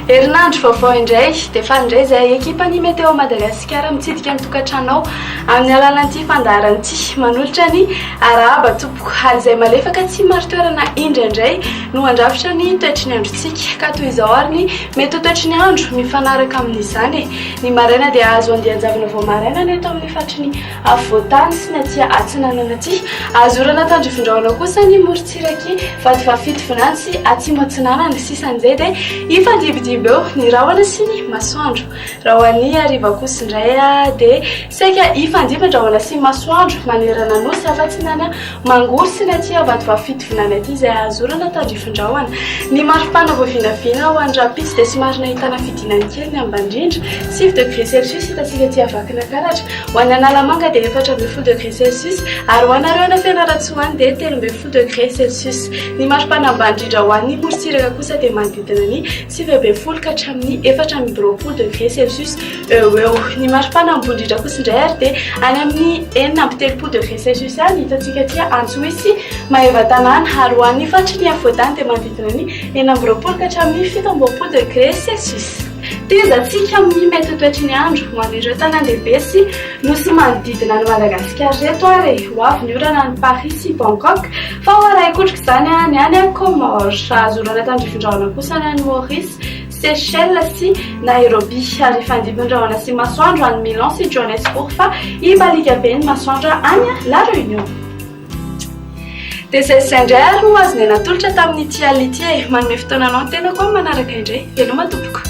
Herinandro vaovao indray, dia faly indray izay ekipan'ny Météo Madagasikara mitsidika ny tokantranao amin'ny alalan'ity fandaharana ity. Manolotra ny arahaba tompoko ary izay malefaka tsy mari-toerana indraindray no handrafitra ny toetry ny androntsika ka toy izao ary ny mety ho toetry ny andro mifanaraka amin'izany. Ny maraina dia azo andian-javona vao maraina ny eto amin'ny faritry ny afovoan-tany sy ny aty atsinanana aty. Azo orana tandrifindrahona kosa ny morontsiraky Vatovafito vinany sy atsimo atsinanana. Sisa an'izay dia hifandimbidimby eo ny rahona sy ny masoandro. Raha ho an'ny hariva kosa indray dia saika hifandimby ny rahona sy ny masoandro manerana nosy afa-tsy ny any. Mangory sy ny aty Vatovavy Fitovinany aty izay ahazorana tandrifin-drahona. Ny maripana voavinavina ho an'ny rahampitso dia somary nahitana fidinany kely ny ambandrindra, sivy degré celsius hitantsika aty Vakinankaratra. Ho an'ny Analamanga dia efatra ambin'ny folo degré celsius ary ho anareo any Fianarantsoa any dia telo ambin'ny folo degré celsius. Ny maripana ambany indrindra ho an'ny morontsiraka kosa dia manodidina ny sivy ambin'ny folo ka hatramin'ny efatra amby roapolo degré celsius. Eo ho eo. Ny maripana ambony indrindra kosa indray ary dia any amin'ny enina amby telopolo degré Celsius any hitantsika aty Antsohihy Maevatanàna ary ho an'ny faritry ny afovoan-tany dia manodidina ny enina amby roapolo ka hatramin'ny fito amby roapolo degré Celsius. Tehezantsika amin'ny mety ho toetry ny andro ho an'ireo tanàn-dehibe sy nosy manodidina an'i Madagasikara ireto ary e! Ho avy ny orana any Paris sy Bangkok fa ho arahin-kotroka izany any any Comores. Azo orana tandrifin-drahona kosa any any Maurice. Seychelles sy Nairobi, ary hifandimby ny rahona sy masoandro any Milan sy Johannesburg fa hibaliaka be ny masoandra any La Réunion. Dia izay sy izay indray ary no azonay natolotra tamin'ity alina ity e! Manome fotoana anao ny tenako amin'ny manaraka indray. Veloma tompoko!